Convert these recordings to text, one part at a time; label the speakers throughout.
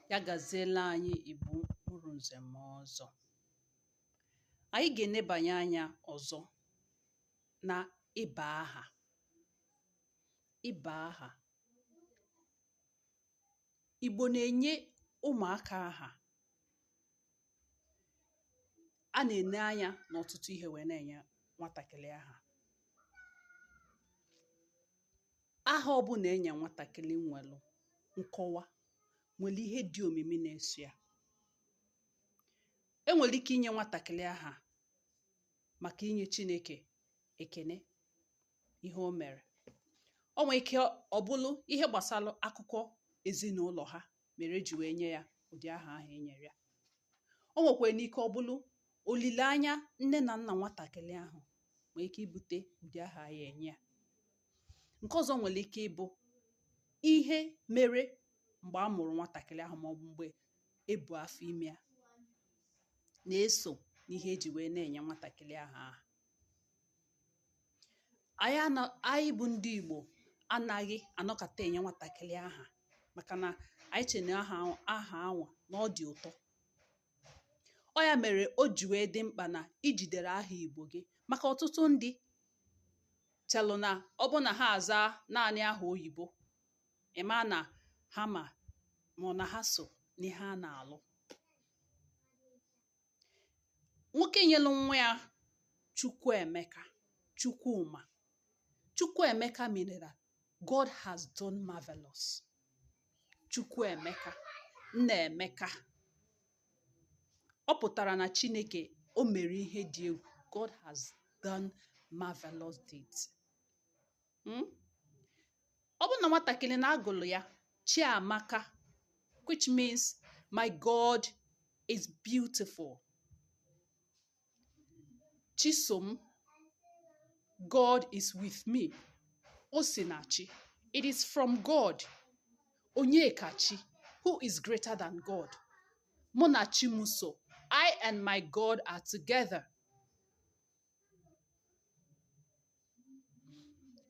Speaker 1: ya gaziela anyị Igbo mụrụ nze mụọ ọzọ anyị ga-enebanye anya ọzọ na ịba aha ịba aha Igbo na-enye ụmụaka aha a na-ene anya n'ọtụtụ ihe wee na-enye nwatakịrị aha aha ọbụla enye nwatakịrị nwelụ nkọwa nwere ihe dị omimi na-eso ya enwere ike inye nwatakịrị aha maka inye Chineke ekene ihe o mere o nwee ike ọ bụrụ ihe gbasara akụkọ ezinụlọ ha mere eji wee nye ya ụdị aha ahụ e nyere ya o nwekwara n'ike ọ bụrụ olileanya nne na nna nwatakịrị ahụ nwere ike ibute ụdị aha a ya-enye ya Nke ọzọ nwere ike ịbụ ihe mere mgbe a mụrụ nwatakịrị ahụ maọbụ mgbe e bu afọ ime ya na-eso n'ihe eji wee na-enye nwatakịrị ahụ aha. Anyị bụ ndị Igbo anaghị anọkata enye nwatakịrị aha maka na anyị che na aha anwa na ọ dị ụtọ. Ọ ya mere o ji wee dị mkpa na i jidere aha Igbo gị maka ọtụtụ ndị chelụ na ọ bụ na ha azaa naanị aha oyibo ịma na ha ma ma ọ na ha so n'ihe a na-alụ nwoke nyelụ nwa ya Chukwuemeka Chukwuma Chukwuemeka meaning that God has done marvelous Chukwuemeka Nnaemeka ọ pụtara na chineke o mere ihe dị egwu god has done marvelous deeds hmm? ọ bụrụ na nwatakịrị na-agụlụ ya chiamaka which means my god is beautiful chisom god is with me o si na chi it is from god onye kachi who is greater than god mụ na chi m so i and my god are together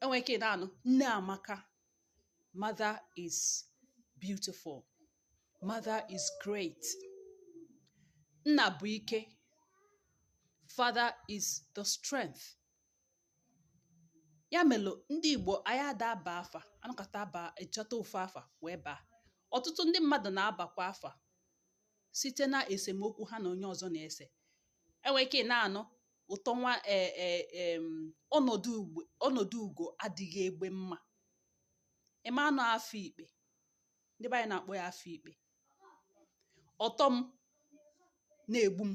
Speaker 1: enwere ike na-anụ nne amaka mother is beautiful Mother is great. Nna bụ ike. Father is the strength. Ya melụ ndị Igbo anyị ada aba afa anọkata aba achọta ofu afa wee baa. Ọtụtụ ndị mmadụ na-abakwa afa site na esemokwu ha na onye ọzọ na-ese. Enwere ike na-anụ ụtọ nwa e, e, em, ọnọdụ ugbo- ọnọdụ ugo adịghị egbe mma. Ịma na ọ afa ikpe ndị be anyị na-akpọ ya afa ikpe ọtọ m na-egbu m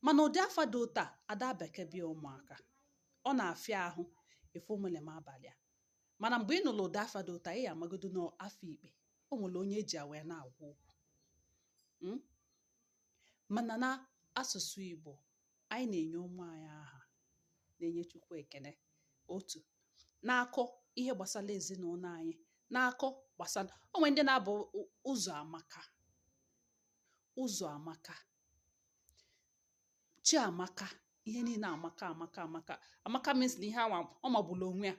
Speaker 1: mana ụdị afa dị otu a ada abakebe ya ụmụaka ọ na-afịa ahụ ịfụ omele m a balụ ya mana mgbe ị nụrụ ụdị afa dị otu a ị ya amagodo n'afa ikpe o nwere onye eji ya wee na-agwa okwu hmm? mana na asụsụ Igbo anyị na-enye ụmụ anyị aha na-enye Chukwu ekene otu na-akọ ihe gbasara ezinụlọ anyị na-akọ gbasara o nwe ndị na-abụ Ụzọamaka Ụzọamaka Chiamaka ihe niile amaka amaka amaka amaka means na ihe anwa ọ magburu onwe ya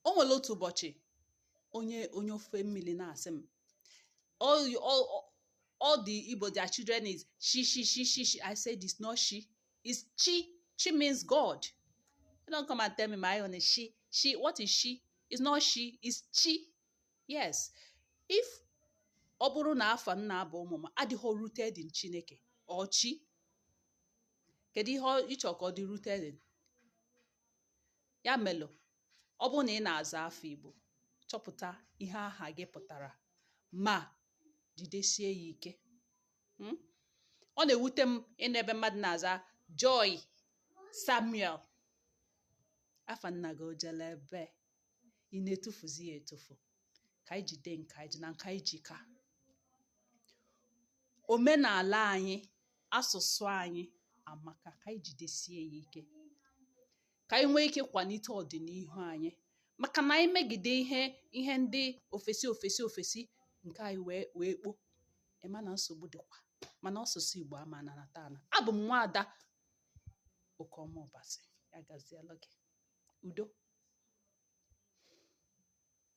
Speaker 1: o nwere otu ụbọchị onye onye ofe mmiri na-asị m all, you- all, all- all the Igbo their children is she she she she she I said it's not she it's chi chi means God you don't come and tell me my own is she she what is she it's not she it's chi yes if ọ bụrụ na afa m na-aba ụmụ m adịghị rooted in Chineke or chi kedu ihe ọ- ị chọ ka ọ dị rooted in ya melu ọ bụrụ na ị na-aza afa Igbo chọpụta ihe aha gị pụtara ma jidesie ya ike hmm? ọ na-ewute m ịnụ ebe mmadụ na-aza Joy Samuel afa nna gị o jele ebe ị na-etufuzi ya etufu ka anyị jide nke anyị ji na nke anyị ji ka omenala anyị asụsụ anyị amaka ka anyị jidesie ya ike ka anyị nwee ike kwalite ọdịnihu anyị maka na anyị megide ihe ihe ndị ofesi ofesi ofesi nke anyị wee wee kpo ị ma na nsogbu dịkwa mana asụsụ Igbo ama ananata ana abụ m nwaada Okeọma Ọbasi ya gazielu gị udo